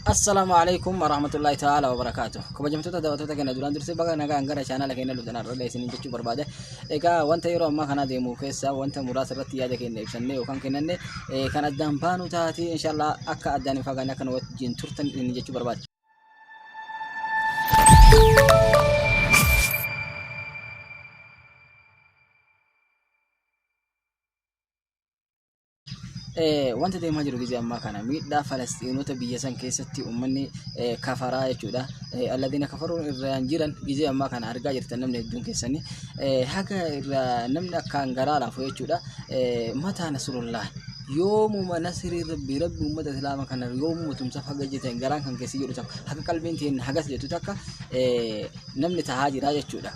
Assalaamu alaikum warahmatullahi ta'ala wabarakaatu. Kabajamtoota daawwattoota keenya duraan dursee baga nagaan gara chaanala keenya dhuftan har'a isiniin jechuu barbaade. Egaa wanta yeroo ammaa kana deemu keessaa wanta muraasa irratti yaada keenya ibsannee yookaan kennanne eh, kan addaan baanu taate inshallah akka addaan hin fagaanne akka nu wajjin turtan isiniin jechuu barbaade. Wanti deemaa jiru gizee ammaa kana miidhaa Falasxiinota biyya san keessatti uummanni kafaraa jechuudha. Alladina kafaruun irraan jiran gizee ammaa kana argaa jirtan namni hedduun keessanii. Haga irraa namni akkaan garaa laafu jechuudha. Mataa Nasrullah yoomuma nasirii rabbi rabbi uummata islaama kana yoomuma tumsaaf haga jetan garaan kan keessi jedhu takka haga qalbiin teenna hagas jettu takka namni tahaa jira jechuudha.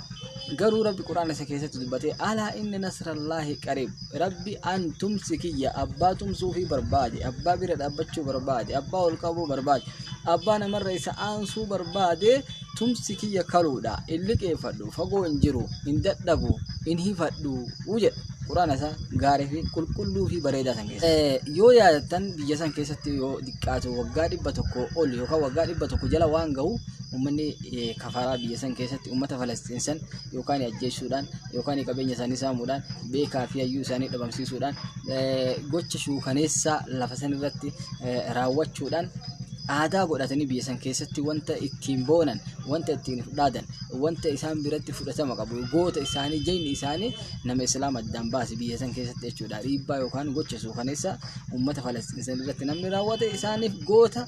Garuu Rabbi Qur'aana isa keessatti dubbatee alaa inni nasrallaahi qariib Rabbi an tumsi kiyya abbaa tumsuu fi barbaade abbaa bira dhaabbachuu barbaade abbaa ol qabuu barbaade abbaa namarra isa aansuu barbaade tumsi kiyya kaluudha in liqeeffadhu fagoo hin jiru hin dadhabu hin hifadhu jedha. Qur'aana isaa gaarii fi qulqulluu fi bareedaa san keessa. Yoo yaadattan biyya san keessatti yoo xiqqaatu waggaa dhibba tokko ol yookaan waggaa dhibba tokko jala waan gahu uummanni kafaraa biyya san keessatti ummata Falasxiin san yookaan ajjeessuudhaan yookaan qabeenya isaanii saamuudhaan beekaa fi hayyuu isaanii dhabamsiisuudhaan gocha shuukaneessaa lafa san irratti raawwachuudhaan aadaa godhatanii biyya san keessatti wanta ittiin boonan wanta ittiin fudhaadan wanta isaan biratti fudhatama qabu goota isaanii jayni isaanii nama islaama addaan baase biyya san keessatti jechuudha dhiibbaa yookaan gocha shuukaneessaa ummata Falasxiin san irratti namni raawwate isaaniif goota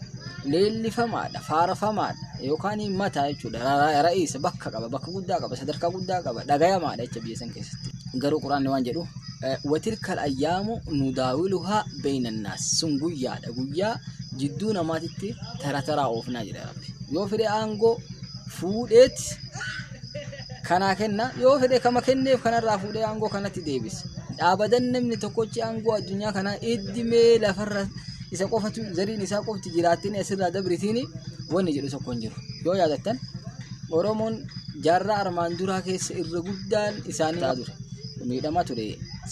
leellifamaadha faarfamaadha. yookaan mataa jechuudha. Ra- Ra'iisa bakka qaba, bakka guddaa qaba, sadarkaa guddaa qaba, dhagayamaadha jecha biyya san keessatti. Garuu quraanni waan jedhu eh, watilkal ayyaamu nudaawiluhaa beeynannaas sun guyyaadha guyyaa jidduu namaatitti tara taraa oofnaa jedha rabbi. Yoo fedhe aangoo fuudheet kanaa kenna yoo fedhe kama kenneef kanarraa fuudhee aangoo kanatti deebisa dhaabadan namni tokkochi aangoo addunyaa kanaa iddimee lafarra isa qofatu zariin isaa qofti jiraattini asirraa dabritiin wanni jedhu tokko hin jiru yoo yaadattan oromoon jaarraa armaan duraa keessa irra guddaan isaanii ture miidhamaa ture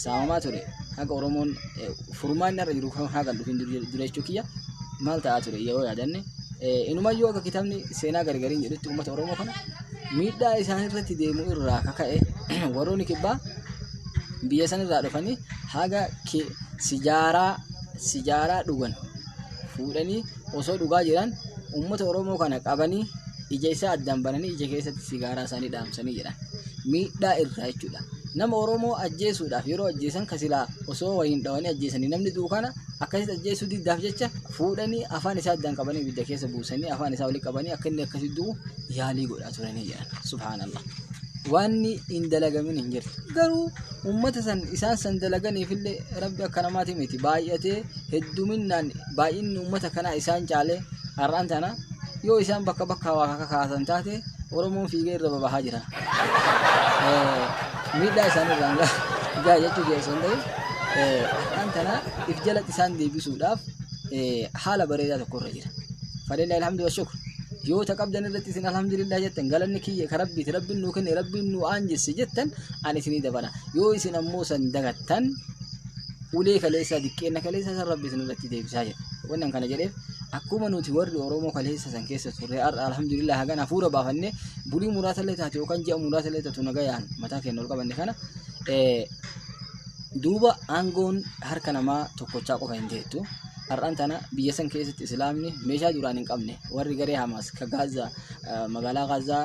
saamamaa ture haga oromoon eh, furmaanni irra jiru kan haagan dhufin dura jechuu kiyya maal ta'aa ture yoo yaadanne inumayyuu akka kitaabni seenaa gargariin jedhutti uummata Oromoo kana miidhaa isaan irratti deemu irraa kaka'e warroonni kibbaa biyya san irraa dhufanii haga sijaaraa sijaaraa dhugan fuudhanii osoo dhugaa jedhan uummata Oromoo kana qabanii ija isaa addaan bananii ija keessatti sigaaraa isaanii dhaamsanii jedhan. Miidhaa irraa jechuudha. Nama Oromoo ajjeesuudhaaf yeroo ajjeesan ka silaa osoo waliin dhawanii ajjeesanii namni du'u kana akkasitti ajjeesuu diddaaf jecha fuudhanii afaan isaa addaan qabanii ibidda keessa buusanii afaan isaa olii qabanii akka inni akkasitti du'u yaalii godhaa turanii jedhan. Subhaanallah. Waanni hin dalagamin hin jirtu. Garuu uummata san isaan san dalaganiifillee rabbi akka namaati miti baay'atee hedduminaan baay'inni uummata kanaa isaan caalee har'aan tana yoo isaan bakka bakka waa kakaasan taate Oromoon fiigee irra babahaa jira. Miidhaa isaan irraan gahaa jechuu jira osoo hin ta'in har'aan tana if jalatti isaan deebisuudhaaf haala bareedaa tokko irra jira. Fadilla alhamdu wa shukr. Yoo ta qabdan irratti isin alhamdulillah jettan galanni kiyya ka rabbiiti rabbiin nuu kenne rabbiin nuu aanjesse jettan ani isinii dabala. Yoo isin ammoo san dagattan ulee kaleessaa diqqeenna kaleessaa san rabbi isinirratti deebisaa jedha. Wanni kana jedheef akkuma nuti warri Oromoo kaleessa san keessa turre har'a alhamdulillah hagan hafuura baafannee bulii muraasa illee taate yookaan ji'a muraasa illee taatu nagayaan mataa keenya ol qabanne kana duuba aangoon harka namaa tokkochaa qofa hin teettu. Har'aan tana biyya san keessatti islaamni meeshaa duraan hin qabne warri garee Hamaas ka Gaazaa magaalaa Gaazaa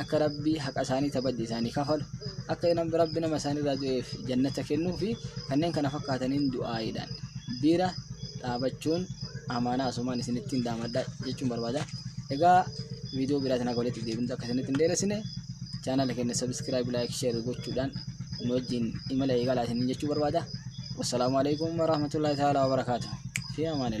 akka rabbii haqa isaanii tabajja isaanii kafalu akka rabbi nama isaanii irraa du'eef jannata kennuu fi kanneen kana fakkaataniin du'aayiidhaan bira dhaabachuun amaanaa asumaan isinittiin daamadha jechuun barbaada. Egaa viidiyoo biraatiin akka walitti deebintu akka isinitti hin dheeressine chaanala keenya sabiskiraayib laayik sheer gochuudhaan nu wajjin imala eegalaa isiniin jechuu barbaada. Wassalaamu alaikum warahmatullahi ta'ala wabarakaatu. Fi amaanillah.